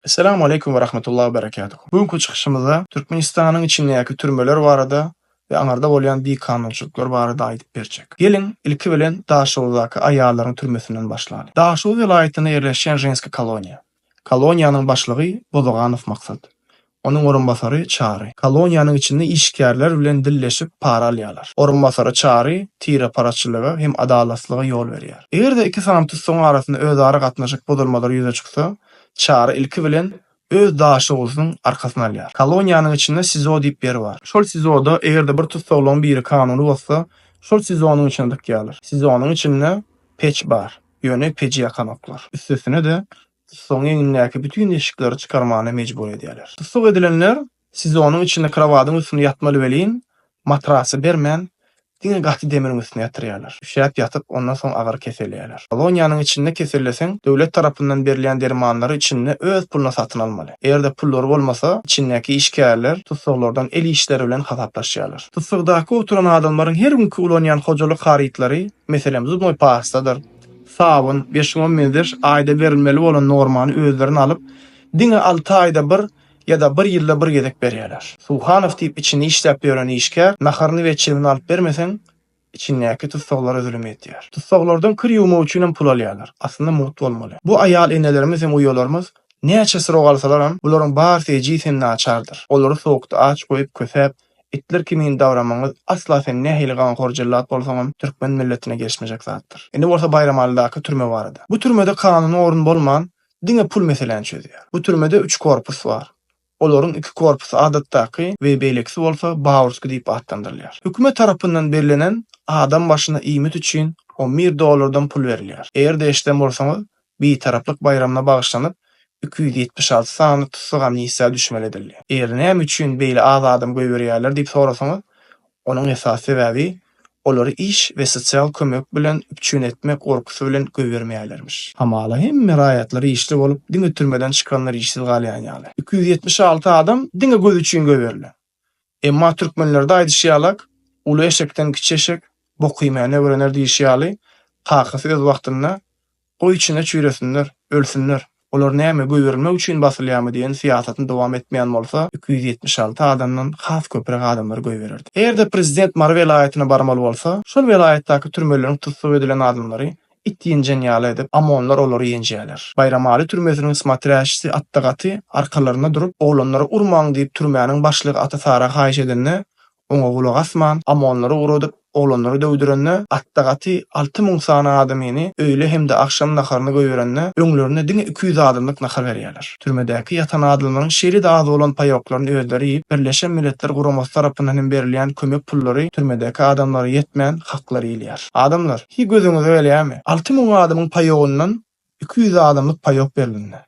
Esselamu aleýkum we rahmetullahi we berekatuhu. Bu günki çykyşymyzda Türkmenistanyň içindäki türmeler barada we aňarda bolýan bikanunçylyklar barada aýdyp berjek. Geliň, ilki bilen Daşoguzdaky aýallaryň türmesinden başlaly. Daşoguz welaýatynda ýerleşýän Ženskiý koloniýa. Koloniýanyň başlygy Bozaganow Maksat. Onuň orunbasary Çary. Koloniýanyň içinde işgärler bilen dilleşip para alýarlar. Orunbasary Çary tireparaçylyga hem adalatsyzlyga ýol berýär. Eger-de iki sany tussagyň arasynda özara gatnaşyk bozulmalary ýüze çyksa, Çary ilki bilen öz daşoguzynyň arkasyny alýar. Koloniýanyň içinde SIZO diýip ýer bar. Şol SIZO-da eger-de bir tussaglygyň biri kanuny bozsa, şol SIZO-nyň içine dykýarlar. SIZO-nyň içinde peç bar, ýöne peji ýakanoklar. Üstesine-de, tussagyň egnindäki bütin deşikleri çykarmana mejbur edýärler. Tussag edilenler Siz onuň içinde krowadyň üstünde ýatmaly welin, matrasy bermän, diňe gaty demiriň üstüne ýatyrýarlar. Üşäp ýatyp, ondan soň agyry keselýärler. Koloniýanyň içinde keselleseň, döwlet tarapyndan berilýän dermanlary içinde öz puluna satyn almaly. Eger-de pullary bolmasa, içindäki işgärler tussaglardan el işleri bilen hasaplaşýarlar. Tussagdaky oturan adamlaryň her günki ulanýan hojalyk harytlary, meselem, zubnoý pastadyr, sabyn, beş-on meň ders aýda berilmeli bolan normany özlerine alyp, diňe alty aýda bir Ýa-da bir ýylda bir gezek berýärler. Suhanow diýip içinde işläp ýören işgär, naharyny we çegini alyp bermeseň, içindäki tussaglara zülüm edýär. Tussaglardan kir ýuwmak üçinem pul alýarlar. Aslynda mugt bolmaly. Bu aýal enelerimiz hem uýalarymyz näçe syrok alsalaram, bularyň barysy ejiz hem naçardyr. Olary sowukda aç goýup, kösäp, itler kimin dabramagyňyz asla sen nähili ganhor jellat bolsaňam türkmen milletine gelşmejek zatdyr. Indi bolsa Baýramalydaky türme barada. Bu türmede kanuny orun bolman, Diňe pul meseläni çözýär. Bu türmede üç korpus bar. Olaryň iki korpusy adatdaky we beýlekisi bolsa Baurski diýip atlandyrylýar. Hökümet tarapyndan bellenen adam başyna iýmit üçin on bir dollardan pul berilýär. Eger-de eşiden bolsaňyz, Bitaraplyk baýramyna bagyşlanyp iki ýüz ýetmiş alty sanly tussag amnistiýa düşmeli edildi. Eger näme üçin beýle az adam goýberýärler diýip sorasaňyz, Onuň esasy sebäbi, olary iş we sosial kömek bilen üpjün etmek gorkusy bilen goýbermeýärlermiş. Hamala, hemme raýatlar işli bolup, diňe türmeden çykanlar işsiz galýan ýaly. Iki ýüz ýetmiş alty adam diňe göz üçin goýberilen. Emma türkmenlerde aýdyşy ýalak, Uly eşekden kiçi eşek bok iýmäni öwrener diýşi ýaly, kakasy öz wagtynda Goý içine çüýresinler, ölsünler. Olar näme, göýberilmek üçin basylýarmy diýen syýasatyny dowam etmeýän bolsa, iki ýüz ýetmiş alty adamdan has köpräk adamlary göýbererdi. Eger-de prezident Mary welaýatyna barmaly bolsa, şol welaýatdaky türmeleriň tussag edilen adamlary it ýenjen ýaly edip, amonlar olary ýenjäler. Baýramaly türmesiniň smatrýaçisi Atda gaty arkalarynda durup, oglanlary urmaň diýip türmäniň başlygy Ata Sara haýyş edende, oňa gulak asman, ammonlary ugradyp, oglanlary döwdürende, atda gaty alty müň sany adamyny, öýle hem-de agşam naharyny goýberende, öňlerine diňe iki ýüz adamlyk nahar berýärler. Türmedäki ýatan adamlaryň şeýle-de az bolan paýoklaryny özleri iýip, Birleşen Milletler Guramasy tarapyndan hem berilýän kömek pullary türmedäki adamlara ýetmän, haklary iýilýär. Adamlar, hiý gözüňize gelýärmi? Alty müň adamyň paýogyndan Iki ýüzli adamlyk paýok berlinde.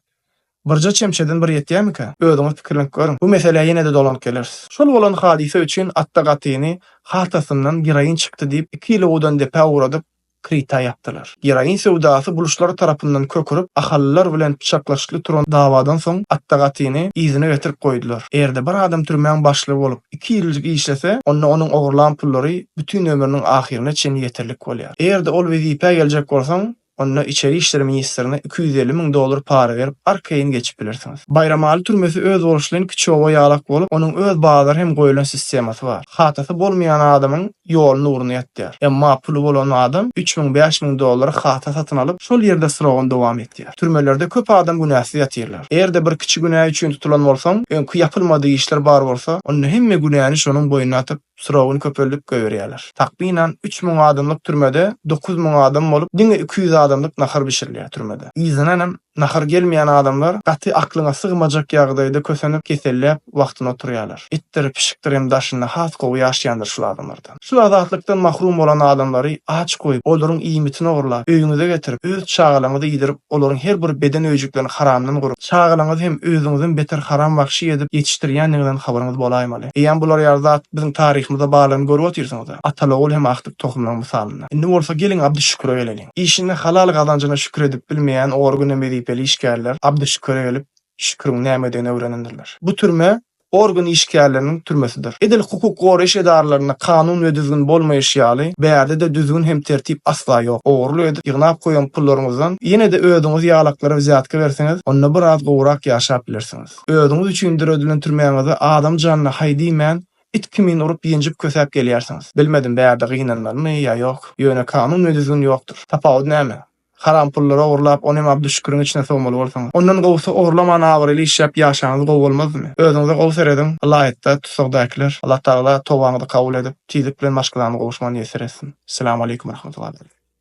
Birje çemçeden bir ýetýämikä? Özüňiz pikirlenip görüň. Bu meselä ýene-de dolanyp geleris. Şol bolan hadysa üçin Atda Gatyny haltasyndan geroin çykdy diýip, iki ýyly gudan depä ugradyp, krita ýapdylar. Geroin söwdasy buluşlary tarapyndan kökürip, ahallylar bilen pyçaklaşykly turan dawadan soň, Atda Gatyny yzyna getirip goýdular. Eger-de bir adam türmäň başlygy bolup, iki ýyljyk işlese, onda onuň ogurlan pullary bütin ömrüniň ahyryna çenli ýeterlik bolýar. Eger-de ol wezipä geljek bolsaň, Onda içeri işler ministrine iki ýüz elli müň dollar para berip, arkaýyn geçip bilersiňiz. Baýramaly türmesi özboluşly kiçi oba ýalak bolup, onuň öz bazary hem goýlan sistemasy bar. Hatasy bolmaýan adamyň ýoluny ugruna ýatýar. Emma puly bolan adam üç müň, bäş müň dollara hata satyn alyp, şol ýerde syragyny dowam etýär. Türmelerde köp adam günäsiz ýatyrlar. Eger-de bir kiçi günä üçin tutulan bolsaň, öňki ýapylmadyk işler bar bolsa, onda hemme günäni şonuň boýnuna atyp, Suragyny köpeldip goýberýärler. Takmynan üç müň adamlyk türmede dokuz müň adam bolup, diňe iki ýüz adamlyk nahar bişirilýär türmede. Yzyndanam nahar gelmeýän adamlar gaty aklyňa sygmajak ýagdaýda kösenip, keselläp wagtyna oturýarlar. Itdir, pişikdir hem daşynda has gowy ýaşaýandyr şul adamlardan. Şul azatlykdan mahrum bolan adamlary aç goýup, olaryň iýmitini ogurlap, öýüňize getirip, öz çagalaňyzy iýdirip, olaryň her bir beden öýjüklerini haramdan gurup, çagalaňyzy hem özüňizden beter haram wagşy edip ýetişdirýändigiňizden habaryňyz bolaýmaly. Eýýäm bular ýaly zat biziň taryhymyza baglanyp görüp otyrsyňyz-a. Ataly-ogul hem ahdyk tohumlaryň mysalynda. Indi bolsa geliň Abdyşüküre geleliň. Işinde halal gazanjyna şükür edip bilmeýän ory güne wezipeli işgärler Abdyşüküre gelip şüküriň nämedigini öwrenendirler. Bu türme organ işgärleriniň türmesidir. Edil hukuk goraýyş edaralarynda kanun we düzgün bolmaýşy ýaly, bärde-de düzgün hem tertip asla ýok. Ogurlyk edip ýygnap goýan pullaryňyzdan ýene-de özüňiz ýalaklara wzýatka berseňiz, onda biraz gowurak ýaşap bilersiňiz. Özüňiz üçin döredilen türmäňize adam janyna haý diýmän, it kimin urup-ýenjip kösäp gelýärsiňiz. Bilmedim, bärde gynanmalymy ýa ýok. Ýöne kanun we düzgün ýokdur. Tapawut näme? Haram pullary ogurlap, ony hem Abduşşüküriň içine sowmaly bolsaňyz. Ondan gowusy ogurlaman abraýly işläp ýaşaňyz gowy bolmazmy? Özüňize gowy serediň, ylaýytda tussagdakylar. Allatagala tobaňyzy kabul edip, tizlik bilen maşgalany gowuşman ýesir etsin. Selam aleykum Rahmatullah.